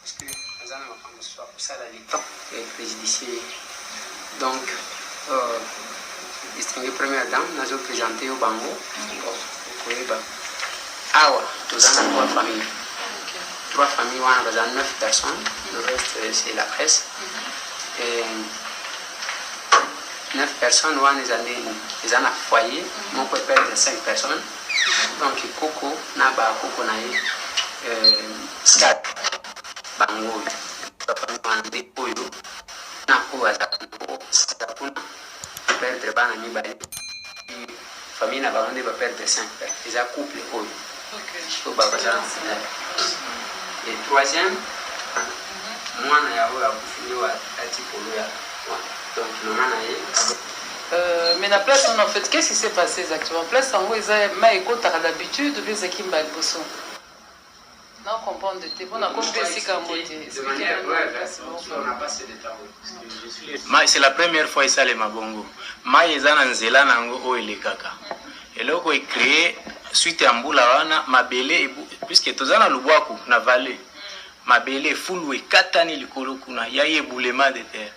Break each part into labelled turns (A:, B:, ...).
A: Parce que aza na makambo mosusu akosala le temps ya prejudicier ye donc euh, distingue première dame nazo présente yo bango okoyeba awa toza na trois famille trois famille wana baza neuf personnes le reste c'est la presse Et, neuf personnes wana eza ndeni eza na foyer moko eperdre cinq personnes Donc koko na ba koko na ye euh, bango oyo bafandi wana nde oyo na oyo azalaka nango sika kuna baperdre bana mibale famille na bango nde baperdre cinq père eza couple oyo oyo babazala na finale e troisième mwana ya oyo akufi nde atipolo ya donc mama na ye
B: Euh, mais na place wana en fait qu'est-ce qui s'est passé exactement place yango eza mai ekotaka d'habitude oubien ezalaki mbala liboso na comprendre te mpo nakomi mpe esika yango te
C: mai c'est la première fois esalema bongo mai eza na nzela na yango oyo elekaka eloko ecree suite ya mbula wana mabele puiske toza na lubwaku na vallée mabele efulu ekatani likolo kuna ya ye boulema de terre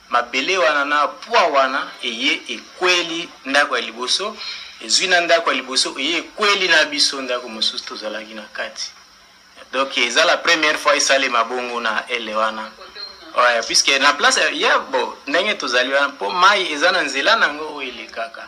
C: Mabele wana na pwa wana eye ekweli ndako ya liboso, ezwi na ndako ya liboso eye ekweli na biso ndako mosusu tozalaki na kati. Donc eza la première fois esalema bongo na ele wana. Ouais, puisque na place ya bo ndenge tozali wana mpo mai eza na nzela na yango oyo elekaka.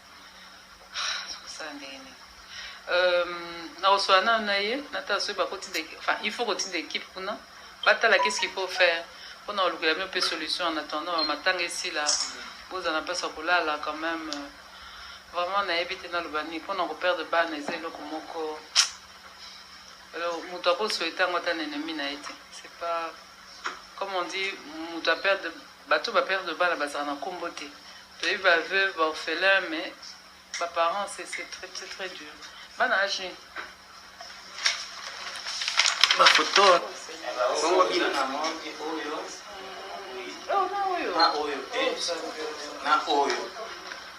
B: kosala ndenge nini nakosola nano na ye natala soki bakotinda enfin il faut kotinda équipe kuna batala qu'est ce qu'il faut faire mpo na kolukela bino mpe solution en attendant bamatanga esila bozala na mpasi ya kolala quand même euh, vraiment nayebi te naloba nini mpo na koperdre bana eza eloko moko moto akosoete yango ata na ennemi na ye te c'est pas comme on dit moto aperdre Bato ba perdre bana bazala na kombo te toyebi ba veuve ba orphelin mais ba parents c'est c'est très très très dur bana age nini
C: ba photo bongo bino na monde oyo na oyo te na oyo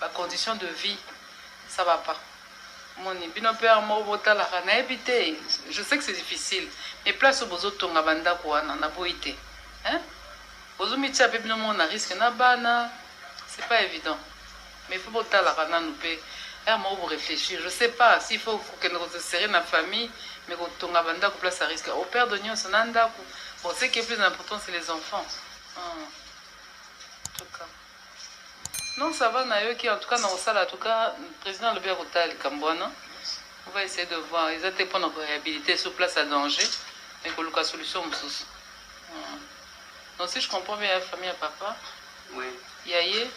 B: ba conditions de vie ça va pas moni bino pe heure moko botalaka nayebi te je sais que c'est difficile mais place oyo bozotonga bandako wana naboyi te hein? bozomitia mpe bino moko na risque na bana c'est pas évident mais faut botalaka nanu mpe heure moko boréfléchir je sais pas s'il faut kokende kosesere na famille mais kotonga bandako place à risque au père de nyonso na ndako bon ce qui est plus important c'est les enfants hum. Non ça va nayoki en tout cas nakosala en tout cas president alobi akotala likambo wana on va essayer de voir eza te pona ko réhabiliter sur place à danger mais koluka solution mosusu hmm. donc si je comprends bien ya
A: famille ya
B: papa oui. ya ye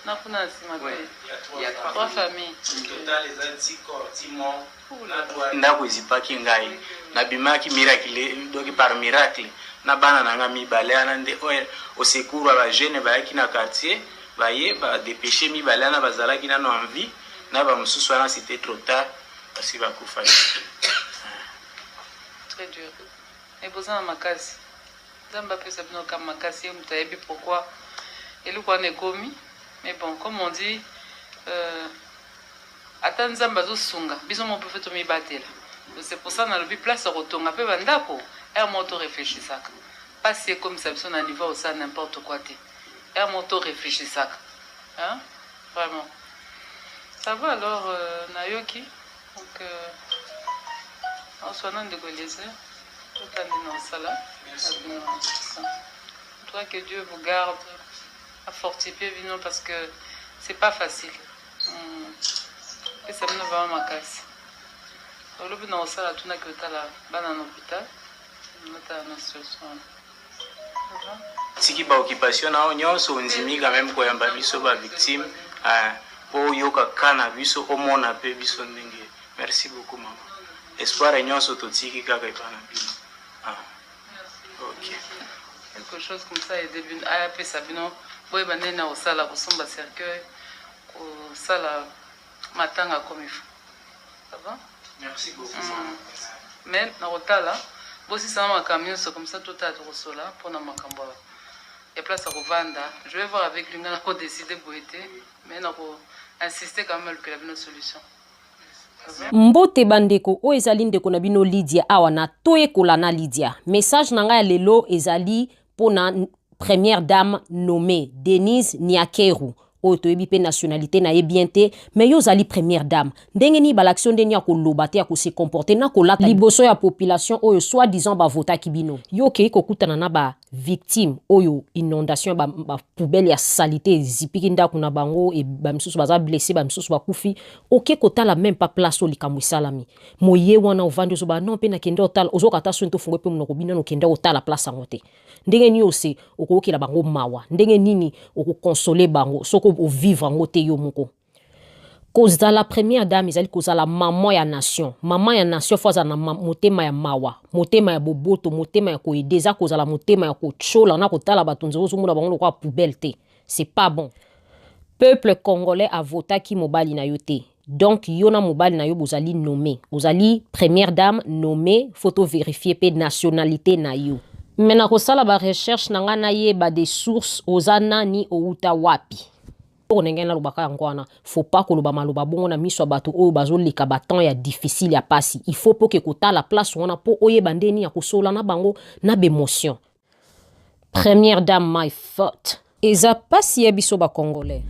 B: na kuna na nsima pe ya
A: trois
B: famille total eza
C: ti corps ti mort Ndaku ezipaki ngai na bimaki miracle donc par miracle na bana na ngai mibale wana nde au secours ya ba jeunes bayaki na quartier baye ba depecher mibale wana bazalaki nano en vie na ba mosusu wana c'était trop tard basi bakufaki.
B: Très dur. Mais boza na makasi. Nzambe apesa bino kama makasi ye moto ayebi pourquoi eloko wana ekomi mais bon comme on dit euh, Ata nzambe azo sunga biso moko pe tomi batela donc c'est pour ça nalobi place ya kotonga pe ba ndako heure moko to reflechisaka pasi ekomisa biso na niveau ya kosala n'importe quoi te heure moko to reflechisaka hein vraiment ça va alors euh, nayoki donc euh, oswana ndeko eliezer otandi na osala toi que dieu vous garde afortifie bino parce que c'est pas facile pesa bino vraimen makasi olobi na kosala tunaki otala bana na hôpital otala na situation wana
C: siki baoccupation nao nyonso ondimi quand même koyamba biso bavictime ah, mpo oyoka ka na biso omona mpe biso ndenge merci beaucoup mama espoir nyonso totiki kaka epa na bino ah.
B: quelque chose comme ça ede bino apesa bino boyeba ndenge na kosala kosomba cercueil kosala matanga comme il faut ava merci beaucoup mm.
C: mais
B: na kotala bosisana makambo nyonso comme ça totala tokosola mpona makambo ya ya place ya kovanda je vais voir avec lui ngai nakodeside boye te mais nako insiste quand même alukela bino solution
D: Mbote ba ndeko, oyo ezali ndeko na bino Lydia awa na toyekola na Lydia. Message na ngai ya lelo ezali pona première dame nommée Denise Niakeru oyo toyebi pe nationalité na ye bien te mais yo ozali première dame ndenge nini balakisi yo ndenge ya koloba te ya ko se comporter na kolata liboso ya population oyo soit disant ba votaki bino yo okeyi kokutana na ba victime oyo inondation ba, ba poubelle ya salite ezipiki ndako na bango e, ba misusu baza blesse ba misusu bakufi oke kotala même pas place oyo likambo esalami moye wana ovandi ozoba non mpe nakende otala ozoka ata soni tofungo mpe monoko bino nokende otala place yango te ndenge nini ose okoyokela bango mawa ndenge nini okokonsole bango soki ovivre yango te yo moko kozala première dame ezali kozala mama ya nation mama ya nation fo azala na motema ya mawa motema ya boboto motema ya koede eza kozala motema ya kotyola na kotala bato nzela ozomona bango lokola poubelle te c'est pas bon peuple congolais avotaki mobali na yo te donc yo na mobali na yo bozali nommé ozali première dame nommé fo toverifie mpe nationalité na yo me nakosala barecherche na ngai nayeba de source oza nani outa wapi Poko ndenge nalobaka yango wana faut pas koloba maloba bongo na miso ya bato oyo bazoleka batemps ya difficile ya pasi il faut poke kotala place wana mpo oyeba nde nini ya kosola na bango na bemotion première dame my faute eza pasi ya biso bacongolais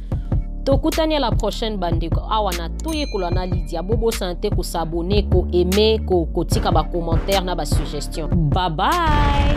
D: tokutani ya la prochaine bandeko awa na toyekola na lidia bobosana te kosabone ko aime ko kotika bacommentaire na basuggestion babai